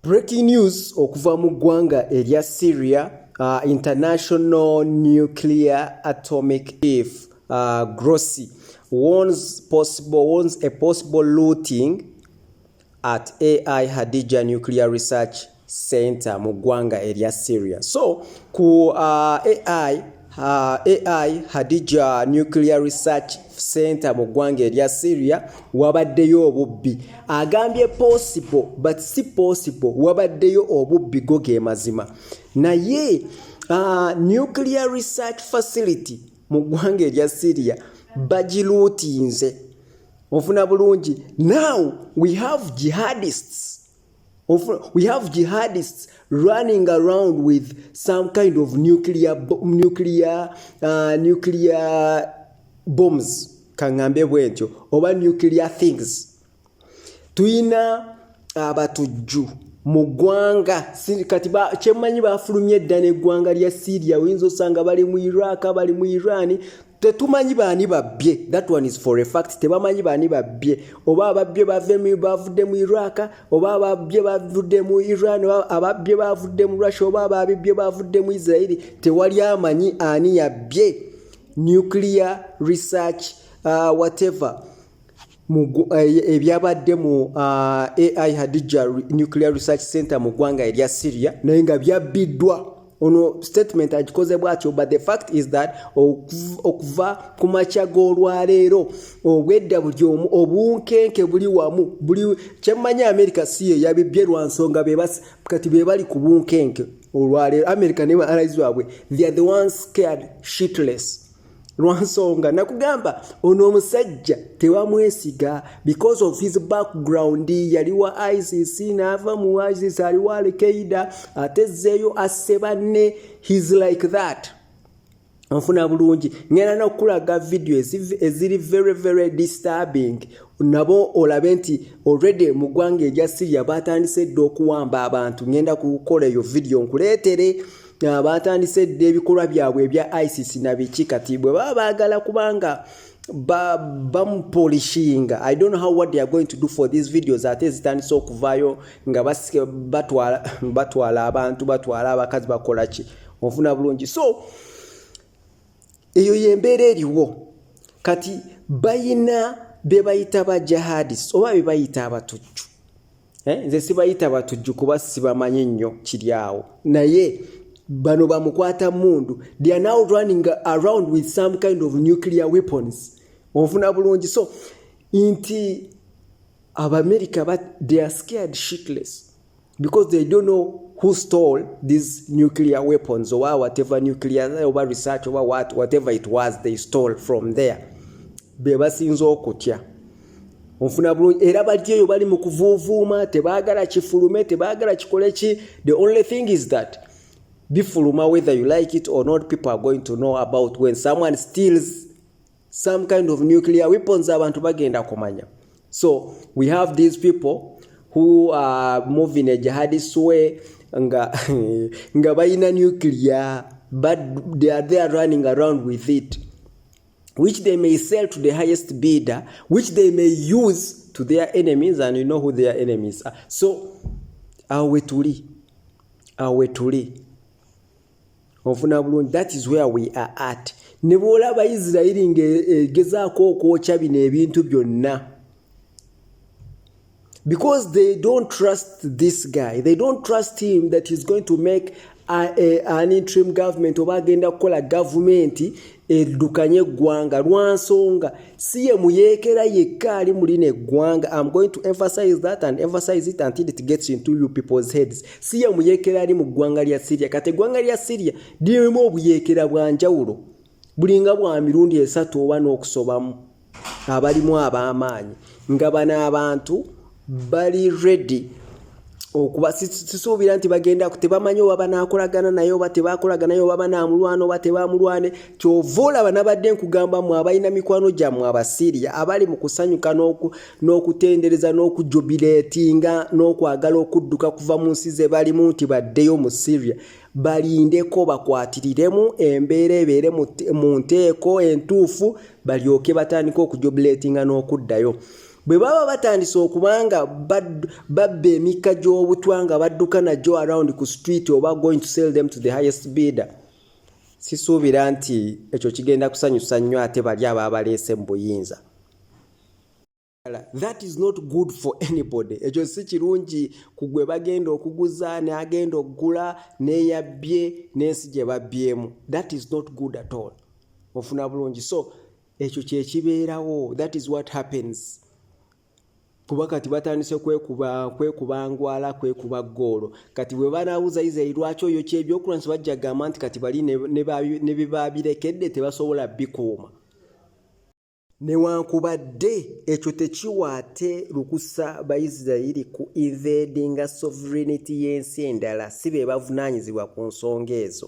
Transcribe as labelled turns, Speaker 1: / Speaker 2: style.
Speaker 1: Breaking news okuva mu ggwanga erya Syria, uh, International Nuclear Atomic Chief uh, Grossi warns possible warns a possible looting at AI Hadija Nuclear Research Center mu ggwanga erya Syria. So ku uh, AI Uh, AI Hadija Nuclear Research Center mu ggwanga erya Syria wabaddeyo obubbi agambye possible but si possible wabaddeyo obubbi go ge mazima naye uh, Nuclear Research Facility mu ggwanga erya Syria bagiluutinze ofuna bulungi now we have jihadists we have jihadists running around with some kind of nuclear, nuclear, uh, nuclear bombs kangambe bwentyo oba nuclear things tuyina abatujju uh, mu ggwanga kati kyemanyi bafulumye edda n'eggwanga lya syria oyinza osanga bali mu iraq bali mu iran tetumanyi baani babbye that one is for a fact tebamanyi baani babbye oba ababbye bavemu bavudde mu iraq oba ababbye bavudde mu iran oba ababbye bavudde mu russia oba ababibbye bavudde mu israeli tewali amanyi ani yabbye nuclear research uh, whatever Eh, ebyabadde mu ah, ai hadija nuclear research center mu ggwanga erya syria naye nga byabbiddwa ono statement agikoze bwatyo but the fact is that okuva ku makya g'olwaleero obwedda buli omu obunkenke buli wamu buli kyemmanyi america si ye yabibbye lwa nsonga kati be bali ku bunkenke olwaleero america ne ba allies baabwe they are the ones scared shitless lwansonga nakugamba ono omusajja tewamwesiga because of his background yali wa isis naava mu isis ali wa alkaida atezzeeyo asse banne his like that nfuna bulungi ngenda nokulaga vidiyo eziri very very disturbing nabo olabe nti already mu ggwanga erya syria batandise dda okuwamba abantu ngenda kukola eyo vidiyo nkuleetere baatandise dda ebikolwa byabwe ebya isis na biki kati bwe baba baagala kubanga bamupolishinga ba i don't know how what they are going to do for these videos ate ezitandise okuvaayo nga batwala, batwala abantu batwala abakazi bakola ki ofuna bulungi so eyo yembeera eriwo kati bayina bebayita ba jihadis oba bebayita abatujju eh, nze sibayita batujju kuba sibamanyi nnyo kiri awo naye bano bamukwata mundu they are now running around with some kind of nuclear weapons onfuna bulungi so nti abamerica but they are scared shitless because they don't know who stole these nuclear weapons oba whatever nuclear oba research oba what, whatever it was they stole from there bebasinza okutya onfuna bulungi era bali eyo bali mu kuvuuvuuma tebaagala kifulume tebaagala kikole ki the only thing is that bifuluma whether you like it or not people are going to know about when someone steals some kind of nuclear weapons abantu bagenda kumanya so we have these people who are moving a jihadist way nga nga bayina nuclear but they are there running around with it which they may sell to the highest bidder, which they may use to their enemies, and you know who their enemies are. So, awo wetuli, awo wetuli. Ofuna bulungi, that is where we are at. Ne bw'olaba Isirayiri ng'egezaako okwokya bino ebintu byonna, because they don't trust this guy they don't trust him that he's going to make a, a, an interim government oba agenda kukola gavumenti eddukanye eggwanga lwa nsonga si ye muyeekera yekka ali mu lino eggwanga im going to emphasize that and emphasize it until it gets into you people's heads si ye muyeekera ali mu ggwanga lya syria kati eggwanga lya syria lirimu obuyeekera bwa njawulo bulinga bwa mirundi esatu oba n'okusobamu abalimu ab'amaanyi nga bano abantu bali redi okuba sisuubira nti bagenda tebamanyi oba banaakolagana naye oba tebakolagana naye oba banaamulwana oba tebamulwane kyova olaba nabadde nkugamba mwe abalina mikwano gyammwe abasiriya abali mu kusanyuka n'okutendereza n'okujubileetinga n'okwagala okudduka kuva mu nsi ze balimu nti baddeyo mu siriya balindeko bakwatiriremu embeera ebeere mu nteeko entuufu balyoke batandike okujobuleetinga n'okuddayo bwe baba batandise okuba nga babba emikka gy'obutwa nga badduka nagyo around ku street oba going to sell them to the highest beader sisuubira nti ekyo kigenda kusanyusa nnyo ate bali abaabaleese mu buyinza that is not good for anybody ekyo si kirungi ku gwe bagenda okuguza neagenda okugula neyabbye n'ensi gye babbyemu that is not good at all ofuna bulungi so ekyo kyekibeerawo that is what happens kuba kati batandise kwekuba kwekuba ngwala kwekuba goolo kati bwe banawuza isiraeli lwaki oyo kyebyokulwa nsi bajja gamba nti kati bali ne bibabirekedde tebasobola bikuuma Newankubadde ekyo tekiwa ate lukusa Baisiraeri ku invadinga sovereignty y'ensi endala, si be bavunaanyizibwa ku nsonga ezo.